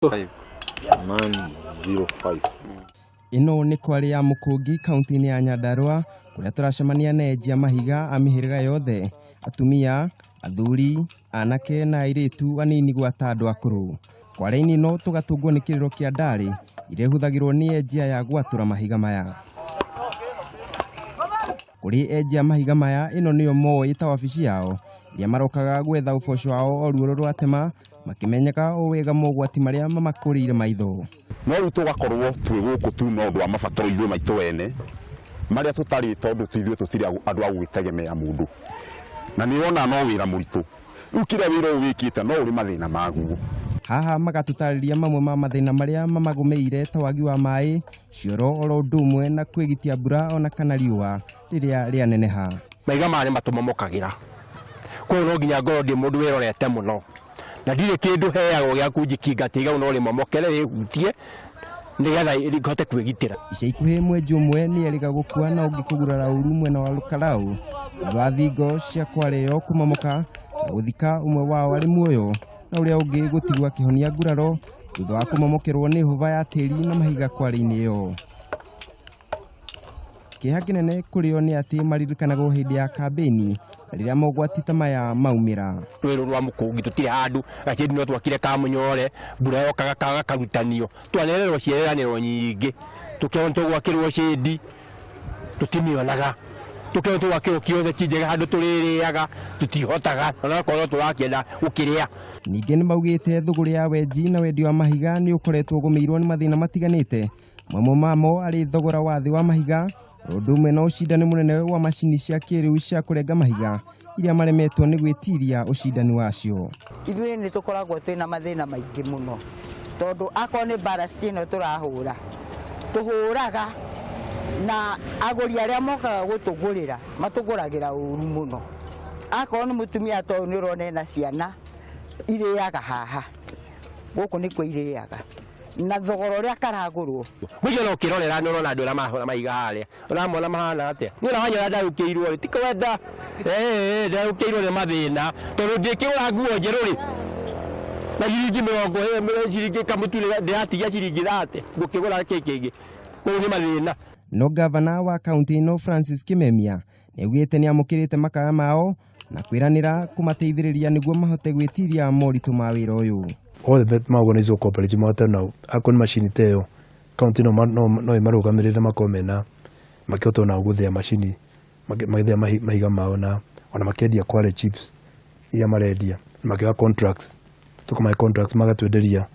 105 ĩno nĩ kwarĩ ya mũkũngi kaunti-inĩ ya nyandarũa kũrĩa tũracemania na enjia mahiga a mĩhĩrĩga yothe atumia athuri anake na airĩtu anini gwata andũ akũrũ kwarĩ-inĩ ino tũgatũngwo nĩ kĩrĩro kĩa ndarĩ iria ihũthagĩrwo nĩ enjia ya gwatũra mahiga maya Kũrĩ enji a mahiga maya, ĩno nĩyo moĩ ta wabici yao, rĩrĩa marokaga gwetha ũboco wao o ruoro rwatema, makĩmenyaga o wega mogwati marĩa mamakũrĩire maitho. No rĩu tũgakorwo twĩ gũkũ tu no ũndũ wa mabataro ithuĩ maitũ ene, marĩa tũtarĩ tondũ ithuĩ tũtirĩ andũ a gũgĩtegemea mũndũ. Na nĩ ũrona no wĩra mũritũ. Rĩu kĩrĩa wĩra ũyũ wĩkĩte no ũrĩ mathĩna maguo. Haha magatũtarĩria mamwe ma mathĩna marĩa mamagũmĩire ta wagi wa maĩ, cioro oro ũndũ ũmwe na kwĩgitia mbura ona kana riũa rĩrĩa rĩaneneha. Maiga maya nĩ matũ mamokagĩra, koguo no nginya ngorwo ndĩ mũndũ wĩrorete mũno, na ndirĩ kĩndũ heagwo gĩa kũnjikinga atĩ rĩu no rĩmomokere rĩhutie nĩgetha hote kwĩgitĩra. Ica ikuhĩ mwenji ũmwe nĩ erĩga gũkua na ũngĩ kũgurara ũru mwena wa Lukalaũ thutha wa thingo cia Kwale yo kũmomoka na gũthika ũmwe wao arĩ muoyo. na ũrĩa ũngĩ gũtigwo akĩhonia nguraro thutha wa kũmomokerwo nĩ hũba ya tĩri na mahiga kwarĩ-inĩ ĩyo kĩeha kĩnene kũrĩo nĩ atĩ maririkanagwo hĩndĩ ya kambĩini rĩrĩa mogwati ta maya maumĩra rwĩrũ rwa mũkũngi tũtirĩ handũ gacĩndi no twakire ka mũnyore mbura yokaga kaga karutanio twanererwo ciĩranĩro nyingĩ tũkĩona tũgwakĩrwo cĩndi tũtimĩonaga tũkĩrwo tũgakĩrwo kĩothe ti njega handũ tũrĩrĩaga tũtihotaga onakorwo tũrakĩenda gũkĩrĩa Ningĩ nĩ maugĩte thũgũrĩ ya wenji na wendia wa mahiga nĩ ũkoretwo ũgũmĩirwo nĩ mathĩna matiganĩte mamwe mamo arĩ thogora wa thĩ wa mahiga ũndũ ũmwe na ũcindani mũnene wa macini cia kĩrĩu cia kũrenga mahiga iria maremetwo nĩ gwĩtiria ũcindani wacio. Ithuĩ nĩ tũkoragwo twĩ na mathĩna maingĩ mũno tondũ akorwo nĩ mbara city ĩno tũrahũra tũhũraga na agũri arĩa mokaga gũtũgũrĩra matũgũragĩra ũru mũno akorwo nĩ mũtumia ta ũyũ nĩ ũrona ena ciana irĩaga haha gũkũ nĩkuo irĩaga na thogora ũrĩa karagũrwo Mũigana ũkĩrorera nĩ ũrona andũ arĩa marahũra maiga harĩa Ũramona mahana atĩa? Niĩ ũranyona ndarũkĩirwo rĩ, ti kwenda. Eh, ndarũkĩirwo nĩ mathĩna. Tondũ ndĩkĩgũra nguo njerũ rĩ, na ciringi mĩrongo ĩrĩ, ciringi kamũtu rĩ, ndĩratigia ciringi thate. Ngũkĩgũra kĩ kĩngĩ? Mau nĩ mathĩna. No ngavana wa kaũntĩ ĩno Francis Kimemia nĩaugĩte nĩamũkĩrĩte makaya mao na kwĩranĩra kũmateithĩrĩria nĩguo mahote gwĩtiria moritũ ma wĩra ũyũ. all the organized cooperative mahote nao akorwo nĩ macini ta ĩyo Kaũntĩ ĩno no ĩmarũgamĩrĩre makorwo mena, makĩhota ona gũthĩa macini, magĩthĩa mahiga mao na ona makendia Kwale chips iria marendia na makĩoya contracts. Tũkamahe contracts magatwenderia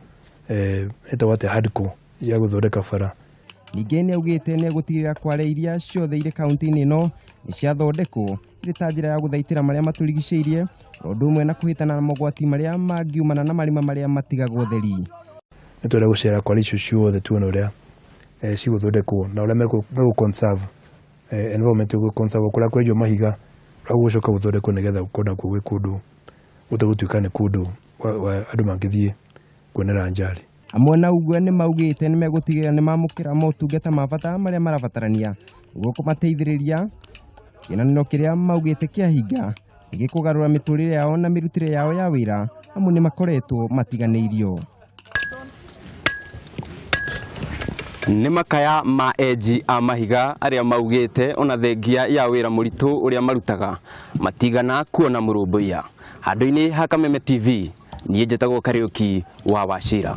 ĩtagwo atĩa Hadco ya gũthondeka bara. Ningĩ nĩaugĩte nĩegũtigĩrĩra Kwale iria ciothe irĩ kaũntĩ-inĩ ĩno nĩciathondekwo ĩrĩ ta njĩra ya gũthaitĩra marĩa matũrigicĩirie o ũndũ ũmwe na kũhĩtana na mogwati marĩa mangiumana na marima marĩa matigagwo ũtheri. Nĩ twenda gũcera kwa icio ciothe tuone ũrĩa eh, cigũthondekwo na ũrĩa megũ conserve eh, environment gũ conserve kũrĩa kwenjwo mahiga ũrĩa gũgũcoka gũthondekwo nĩgetha gũkorwo nakuo gwĩ kũndũ gũtegũtuĩka nĩ kũndũ wa- wa- andũ mangĩthiĩ kuonera njari. Amwe na ũguo nĩ maugĩte nĩ megũtigĩrĩra nĩ mamũkĩra motungata ma bata marĩa marabatarania nĩguo kũmateithĩrĩria. Kĩnanĩro kĩrĩa maugĩte kĩahinga nĩ gĩkũgarũra mĩtũrĩre yao na mĩrutĩre yao ya wĩra amu nĩ makoretwo matiganĩirio. Nĩ makaya ma enji a mahiga arĩa maugĩte ona thengia ya wĩra mũritũ ũrĩa marutaga matigana kuona mũrũmbũiya. Handũ-inĩ ha Kameme TV, niä njätagwo kariuki wa wacira